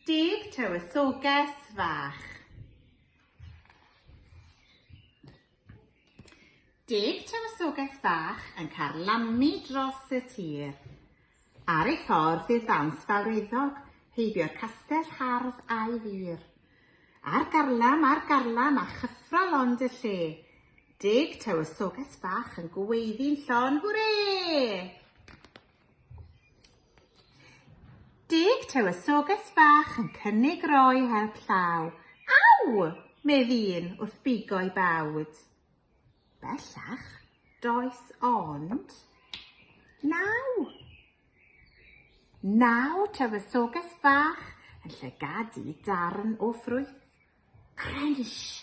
Deg tywysoges fach. Deg tywysoges fach yn carlamu dros y tir. Ar ei ffordd i'r ddawns fawreddog, heibio'r castell hardd a'i fur. Ar garlam, ar garlam, a chyffro lond y lle. Deg tywysoges fach yn gweiddi'n llon, hwrê! Deg tywysoges fach yn cynnig roi help llaw. Aw! medd un wrth bigo'i bawd. Bellach, does ond naw. Naw tywysoges fach yn llygadu darn o ffrwyth. Crynsh!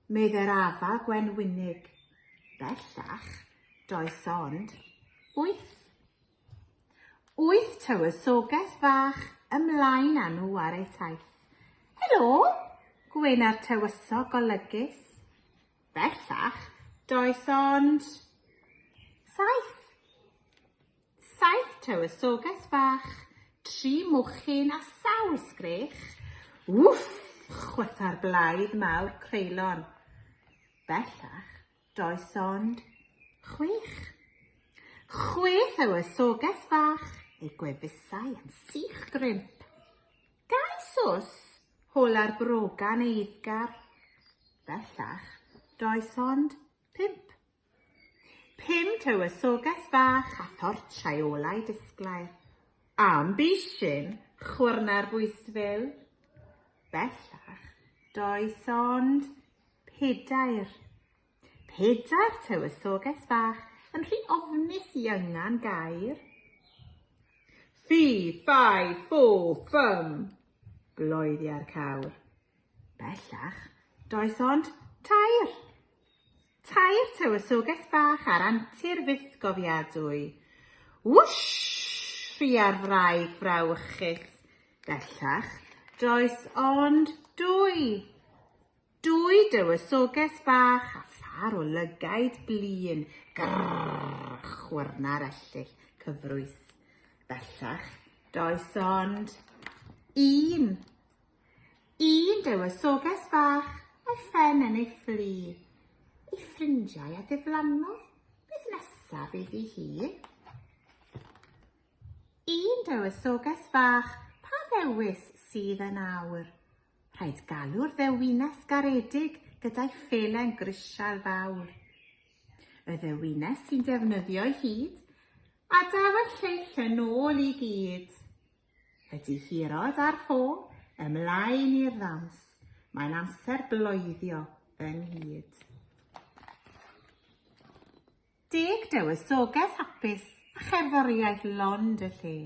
meddai'r afa gwenwynig. Bellach, does ond wyth. Wyth tywysoges fach ymlaen â nhw ar eu taith. Helo! gwena'r tywysog golygus. Bellach, does ond saith. Saith tywysoges fach, tri mochyn a sawl sgrech. Wff! chwytha'r blaidd mawr creulon. Bellach, does ond chwech. Chwe thywysoges fach, ei gwefusau yn sych grimp. Dau sws, hol ar brogan eiddgar. Bellach, does ond pump. Pum tywysoges fach a thorchau olau disglair. Am bishyn, chwyrnau'r bwystfil. Bellach, does ond pedair. Pedair tywysoges fach yn rhy ofnus i yngan gair. Fi, fai, ffo, ffym, bloeddia'r cawr. Bellach, does ond tair. Tair tywysoges bach ar antur fythgofiadwy. Wwshh! rhia'r wraig frawychus. Bellach, does ond dwy. Dwy dywysoges bach a phar o lygaid blin. Grrrr! chwyrna'r ellyll cyfrwys. Bellach, does ond un. Un dywysoges fach, a'i phen yn ei ffli. Ei ffrindiau a diflannodd, beth nesaf iddi hi? Un dywysoges fach, pa ddewis sydd yn awr? Rhaid galw'r ddewines garedig gyda'i phelen grisial fawr. Y ddewines sy'n defnyddio'i hyd, a daw y lleill yn ôl i gyd. Y difyrod a'r ffôn, ymlaen i'r ddawns, mae'n amser bloeddio ynghyd. Deg dywysoges hapus a cherddoriaeth lond y lle.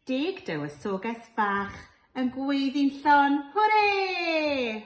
Deg dywysoges fach yn gweiddi'n llon, hwrê!